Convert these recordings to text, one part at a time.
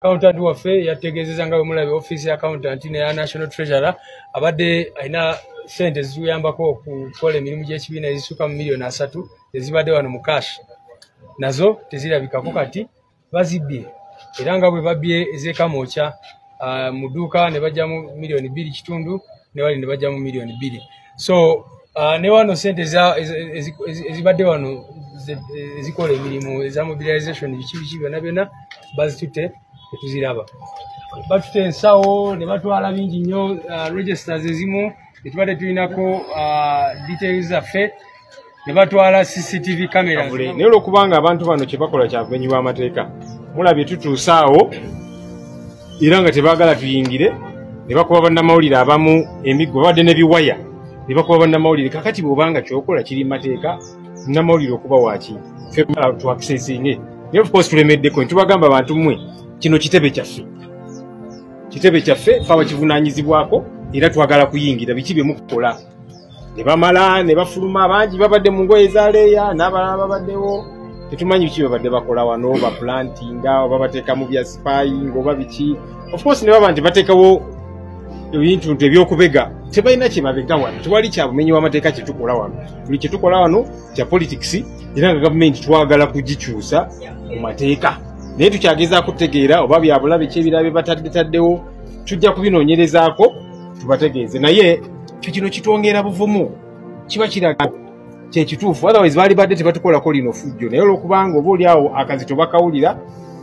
accountant waffe yategeezeza nga bwemulabye offiisi ya accountant neya national treasurer abadde alina sente ezituyambako okukola emirimu gy'ekibiina ezisuka mu miliyoni asatu ezibadde wano mu cash nazo tezirabikako kati bazibbye era nga bwe babbye ez'ekamokya ah, mu dduuka ne bajjamu miliyoni bbiri kitundu ne bali ne bajjamu miliyoni bbiri so uh, ne wano sente ezibadde wano ezikola emirimu eza mobilization biki biki byona byona bazitutte tetuziraba batuta ensawo ne batwala bingi nnyo uh, registers ezimu tetubadde tulinako uh, details zaffe ne batwala cctv camera naye olwokubanga abantu bano kyebakola kyabumenyi bwamateeka mulabye tutuusaawo era nga tebagala tuyingire ne bakuba bannamawulire abamu emiggo babadde ne biwaya ne bakuba bannamawulire kakati bwobanga kyokola kiri mateeka namawulire okuba waki tuakisesinge naye ofcourse tulemeddeko ntubagamba bantu mmwe kino kitebe kyaffe kitebe kyaffe fe abakivunanyizibwako era twagala kuyingira biki byemukukola ne bamala ne bafuluma bangi babadde mu ngoye za leeya n'abalala babaddewo tetumanyi biki babadde bakola wano baplantinga oba bateekamu bya sipayinga oba biki ofcourse ne baba nti bateekawo ebintu nti ebyokubega tebalina kyebabega wano tewali kyabumenyi wamateeka kyetukola wano buli kyetukola wano kya politics era nga gavumenti twagala kugikyusa mu mateeka naye tukyagezaako tutegeera oba byabulabe kyebirabe bataddetaddewo tujja kubinoonyerezaako tubategeeze naye ffe kino kitwongera buvumu kiba kiraga kyekituufu otherwise baali badde tebatukolako lino fujjo naye olwokubanga oba oliawo akazito bakawulira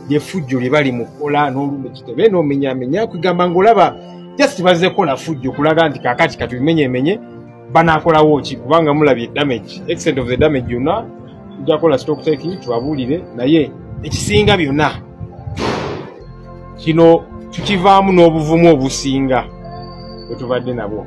lyefujjo lye bali mukola n'olumu kitebe n'omenyamenya kwegamba ngaolaba just bazze kola fujjo kulaga nti kakati katubimenyemenye banakolawo ki kubanga mulabye damage extent of the damage yonna tujja kola stokuteki tubabuulire naye ekisinga byonna kino tukivaamu n'obuvumu obusinga bwetubadde nabwo